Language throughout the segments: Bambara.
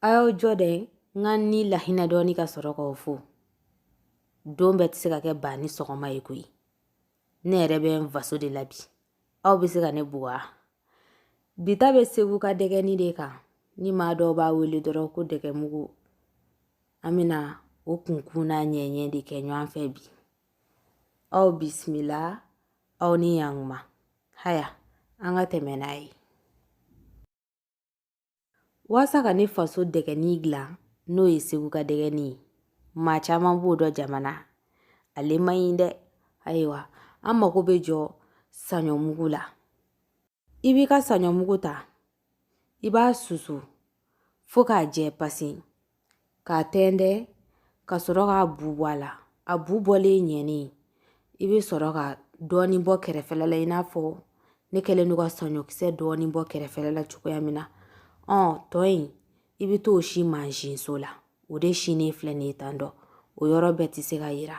a y'aw jɔ dɛ n ka ni lahinɛ dɔɔni ka sɔrɔ k'aw fo don bɛɛ tɛ se ka kɛ ba ni sɔgɔma ye koyi ne yɛrɛ bɛ n faso de la bi aw bɛ se ka ne bugɔ bi ta bɛ segu ka dɛgɛni de kan ni maa dɔw b'a wele dɔrɔn ko dɛgɛmugu an bɛna o kunkun n'a ɲɛɲɛ de kɛ ɲɔgɔn fɛ bi aw bisimila aw ni yankuma haya an ka tɛmɛ n'a ye Walasa ka ne faso dɛgɛni dilan n'o ye segu ka dɛgɛni maa caman b'o dɔn jama na ale man ɲi dɛ ayiwa an mago bɛ jɔ saɲɔmugu la i b'i ka saɲɔmugu ta i b'a susu fo k'a jɛ pasi k'a tɛntɛn ka sɔrɔ k'a bu bɔ a la a bu bɔlen ɲɛni i bɛ sɔrɔ ka dɔɔnin bɔ kɛrɛfɛla la i n'a fɔ ne kɛlen don ka saɲɔkisɛ dɔɔnin bɔ kɛrɛfɛla la cogoya min na ɔ tɔ in i bɛ t'o si mansinso la o de sinen filɛ nin ye tan dɔ o yɔrɔ bɛɛ tɛ se ka yira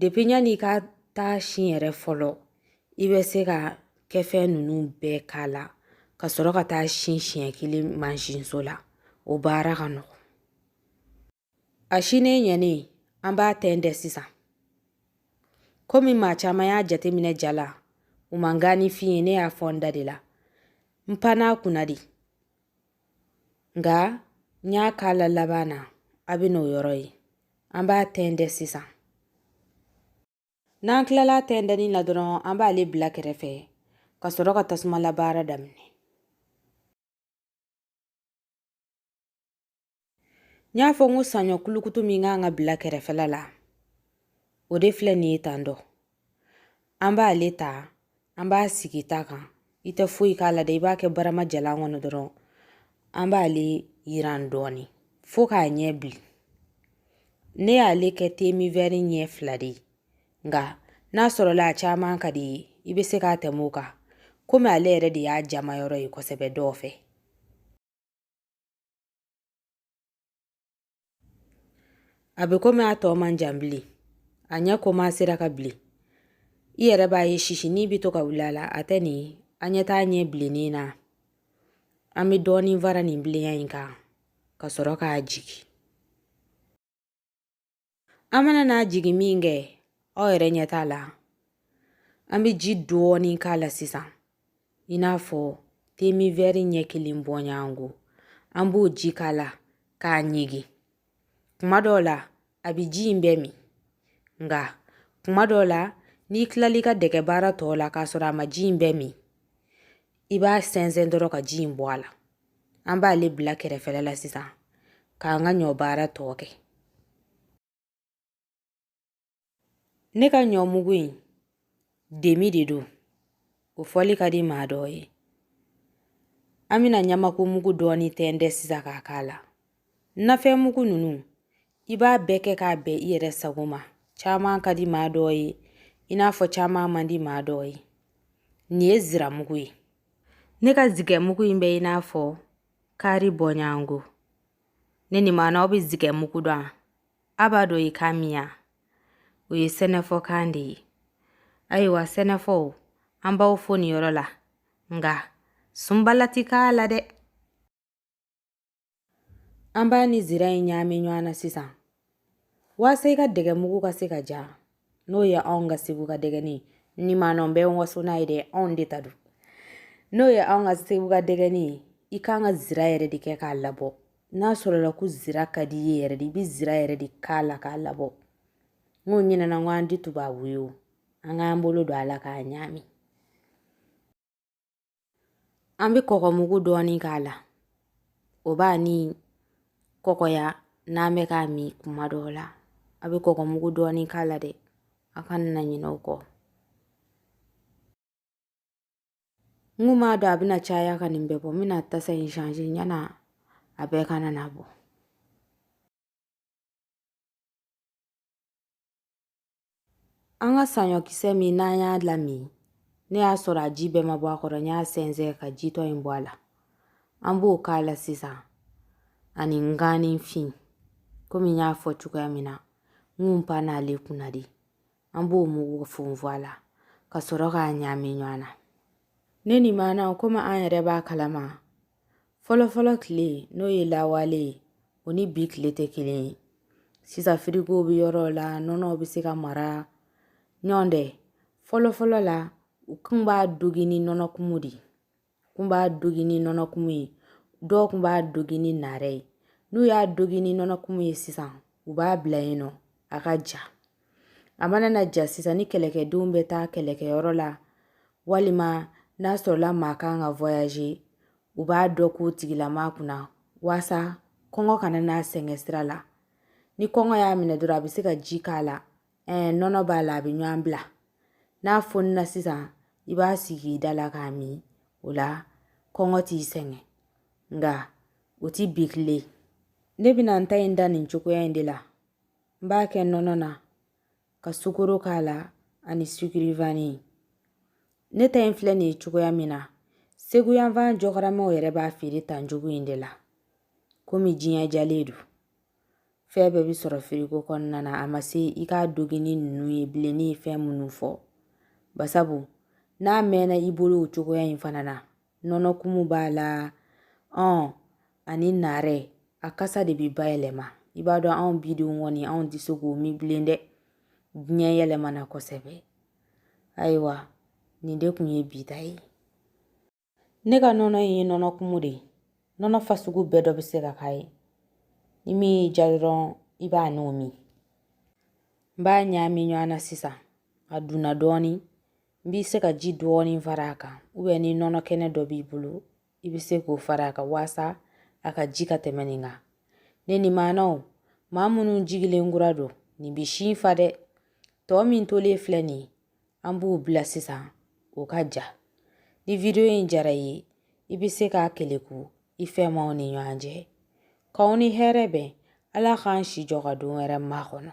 depi yanni i ka taa si yɛrɛ fɔlɔ i bɛ se ka kɛfɛn ninnu bɛɛ k'a la ka sɔrɔ ka taa si siɲɛ kelen mansinso la o baara ka nɔgɔn a sinen ɲɛnen an b'a tɛntɛn sisan komi maa caman y'a jateminɛ ja la u ma nganifin ye ne y'a fɔ n da de la n panna a kunna de nka n y'a k'a la laban na a bɛn'o yɔrɔ ye an b'a tɛntɛn sisan n'an tilala tɛntɛnni na dɔrɔn an b'ale bila kɛrɛfɛ ka sɔrɔ ka tasumala baara daminɛ n y'a fɔ n ko saɲɔ kulukutu min ka kan ka bila kɛrɛfɛla la o de filɛ nin ye tan dɔ an b'ale ta an b'a sigi ta kan i tɛ foyi k'a la dɛ i b'a kɛ barama jalan kɔnɔ dɔrɔn an b'ale yiran dɔɔni fo k'a ɲɛ bilen ne y'ale kɛ demi wɛri ɲɛ fila de ye nka n'a sɔrɔla a caman ka di i ye i bɛ se k'a tɛmɛ o kan komi ale yɛrɛ de y'a jama yɔrɔ ye kosɛbɛ dɔw fɛ a bɛ komi a tɔ man jan bilen a ɲɛ komansera ka bilen i yɛrɛ b'a ye sisini bɛ to ka wuli a la a tɛ nin aw ɲɛ t'a ɲɛ bilennen na an bɛ dɔɔnin fara nin bilenya in kan ka sɔrɔ k'a jigin an mana n'a jigin min kɛ aw yɛrɛ ɲɛ t'a la an bɛ ji dɔɔni k'a la sisan i n'a fɔ demi wɛri ɲɛ kelen bɔɲɔgɔnko an b'o ji k'a la k'a ɲigin kuma dɔw la a bɛ ji in bɛɛ min nka kuma dɔw la n'i tilali ka dɛgɛ baara tɔw la k'a sɔrɔ a ma ji in bɛɛ min i b'a sɛnsɛn dɔrɔn ka ji in bɔ a la an b'ale bila kɛrɛfɛla la sisan k'an ka ɲɔ baara tɔ kɛ ne ka ɲɔ mugu in demi de don o fɔli ka di maa dɔw ye an bɛna ɲamaku mugu dɔɔni tɛntɛn sisan k'a k'a la nafɛn mugu ninnu i b'a bɛɛ kɛ k'a bɛn i yɛrɛ sago ma caman ka di maa dɔw ye i n'a fɔ caman man di maa dɔw ye nin ye ziramugu ye Ne ka zigɛ mugu in bɛ i n'a fɔ kari bɔɲɔgɔnko ne ni maana aw bɛ zigɛ mugu dɔn wa a b'a dɔn i k'a miya o ye sɛnɛfɔkan de ye ayiwa sɛnɛfɔw an b'aw fo nin yɔrɔ la nka sunbala ti k'a la dɛ An b'a ni zira in ɲaami ɲɔgɔn na sisan walasa i ka dɛgɛ mugu ka se ka ja n'o ye anw ka segu ka dɛgɛni ni maa nɔ bɛ waso n'a ye dɛ anw de ta don n'o ye anw ka segu ka dɛgɛni ye i kan ka zira yɛrɛ de kɛ k'a labɔ n'a sɔrɔla ko zira ka di i ye yɛrɛ de i bɛ zira yɛrɛ de k'a la k'a labɔ n kun ɲinɛna n ko an ti tubabu ye o an k'an bolo don a la k'a ɲaami An bɛ kɔkɔ mugu dɔɔni k'a la o b'a ni kɔkɔya n'an bɛ k'a min kuma dɔw la a bɛ kɔkɔ mugu dɔɔni k'a la dɛ a kana ɲinɛ o kɔ n kun m'a dɔn a bɛna caya ka nin bɛɛ bɔ n bɛna tasa in changer ɲana a bɛɛ kana na bɔn An ka saɲɔkisɛ min n'an y'a lamin ne y'a sɔrɔ a ji bɛɛ ma bɔ a kɔrɔ n y'a sɛnsɛn ka jitɔ in bɔ a la an b'o k'a la sisan ani nganifin komi n y'a fɔ cogoya min na n kun pann'ale kunna de an b'o mugu funfun a la ka sɔrɔ k'a ɲaami ɲɔgɔn na ne ni maana komi an yɛrɛ b'a kalama fɔlɔfɔlɔ tile n'o ye lawale ye o ni bi tile tɛ kelen ye sisan firigow bɛ yɔrɔ la nɔnɔw bɛ se ka mara nɔntɛ fɔlɔfɔlɔ la u kun b'a dogi ni nɔnɔ kumu de ye kun b'a dogi ni nɔnɔ kumu ye dɔw kun b'a dogi ni nare ye n'u y'a dogi ni nɔnɔ kumu ye sisan u b'a bila yen nɔ a ka ja a mana na ja sisan ni kɛlɛkɛdenw bɛ taa kɛlɛkɛyɔrɔ la walima n'a sɔrɔla maa kan ka voyager u b'a dɔ k'o tigilama kunna waasa kɔngɔ kana n'a sɛgɛn sira la ni kɔngɔ y'a minɛ dɔrɔn a bɛ se ka ji k'a la ɛɛ nɔnɔ b'a la a bɛ ɲɔgɔn bila n'a fonina sisan i b'a sigi i da la k'a min o la kɔngɔ t'i sɛgɛn nka o ti bi tile ne bɛna n ta in da nin cogoya in de la n b'a kɛ nɔnɔ na ka sukoro k'a la ani sukirivani ne ta in filɛ nin ye cogoya min na segu yanfan jɔkaramaw yɛrɛ b'a feere tan cogo in de la komi diɲɛ jalen don fɛn bɛɛ bɛ sɔrɔ firigo kɔnɔna na a ma se i k'a dogi ni ninnu ye bilen ne ye fɛn minnu fɔ basabu n'a mɛnna i bolo o cogoya in fana na nɔnɔkumu b'a la ɔn ani naarɛ a kasa de bɛ bayɛlɛma i b'a dɔn anw bidenw kɔni anw tɛ se k'o min bilen dɛ diɲɛ yɛlɛmana kosɛbɛ ayiwa nin de kun ye bi ta ye ne ka nɔnɔ in ye nɔnɔ kumu de ye nɔnɔ fasugu bɛɛ dɔ bɛ se ka k'a ye ni min y'i ja dɔrɔn i b'a n'o min n b'a ɲaami ɲɔgɔn na sisan a dunna dɔɔnin n bɛ se ka ji dɔɔni fara a kan ubiyɛn ni nɔnɔ kɛnɛ dɔ b'i bolo i bɛ se k'o fara a kan waasa a ka ji ka tɛmɛ nin kan ne ni maanaw maa minnu jigilen kura don nin bɛ sin fa dɛ tɔ min tolen filɛ nin ye an b'o bila sisan o ka ja ni vidiyo in jara i ye i bɛ se k'a keleku i fɛmaaw ni ɲɔgɔn cɛ k'aw ni hɛrɛ bɛn ala k'an si jɔ ka don wɛrɛ makɔnɔ